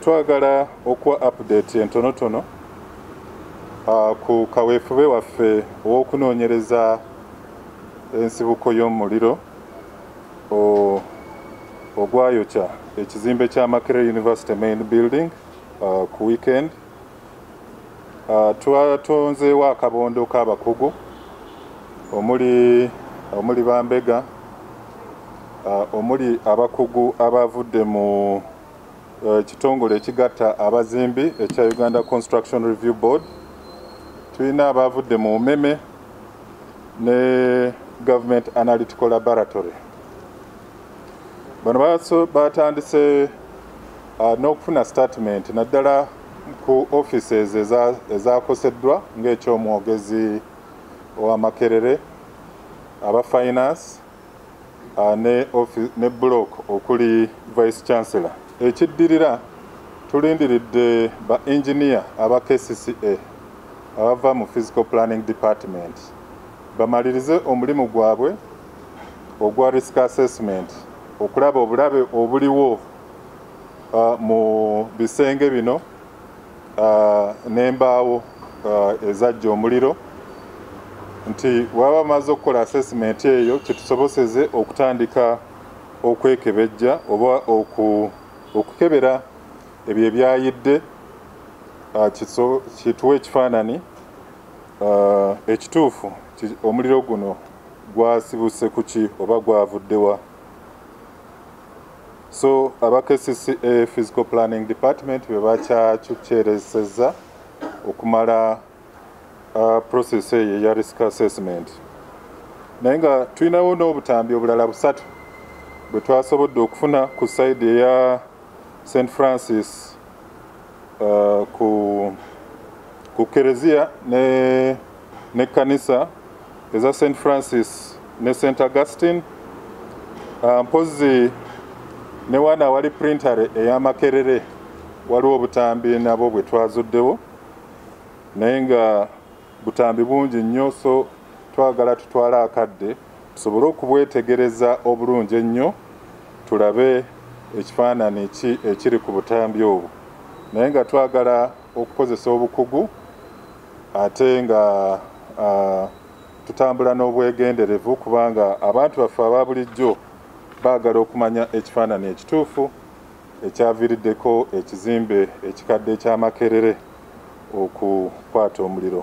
twagala okuwa update entonotono uh, ku kaweefube waffe ow'okunoonyereza ensibuko y'omuliro ogwayokya ekizimbe kya Makerere University Main Building uh, ku weekend uh, twatonzeewo akabondo k'abakugu omuli omuli bambega uh, omuli abakugu abavudde mu uh, kitongole ekigatta abazimbi ekya uganda construction review board tulina abavudde mu umeme ne government analytical laboratory bano batandise uh, n'okufuna statement naddala ku offices ezakoseddwa ng'ekyomwogezi wa makerere aba finance uh, ne, ne block okuli vice chancellor ekiddirira tulindiridde ba engineer aba kcca abava mu physical planning department bamalirize omulimu gwabwe ogwa risk assessment okulaba obulabe obuliwo uh, mu bisenge bino uh, n'embaawo uh, ezajja omuliro nti waba amaze okukola assessment eyo kitusoboseze okutandika okwekebejja oba okukebera ebyo ebyayidde Ah, kituwa ekifaanani ah, ekituufu omuliro guno gwasibuse kuki oba gwavudde wa so aba kcca physical planning department bebakyakyukyereseza okumala uh, process eyo eya risk assessment naye nga tulinawo n'obutambi obulala busatu bwe twasobodde okufuna ku saidi eya st francis uh, ku, ku kereziya ne ne kanisa eza st francis ne st augustine ah, mpozi ne wana wali printare eyamakerere waliwo obutambi nabo bwe twazuddewo naye nga butambi bungi nnyo so twagala tutwale akadde tusobole okubwetegereza obulungi ennyo tulabe ekifaanani ki ekiri ku butambi obwo naye nga twagala okukozesa obukugu ate nga tutambula n'obwegenderevu kubanga abantu baffe aba bulijjo baagala okumanya ekifaanani ekituufu ekyaviiriddeko ekizimbe ekikadde ekyamakerere okukwata omuliro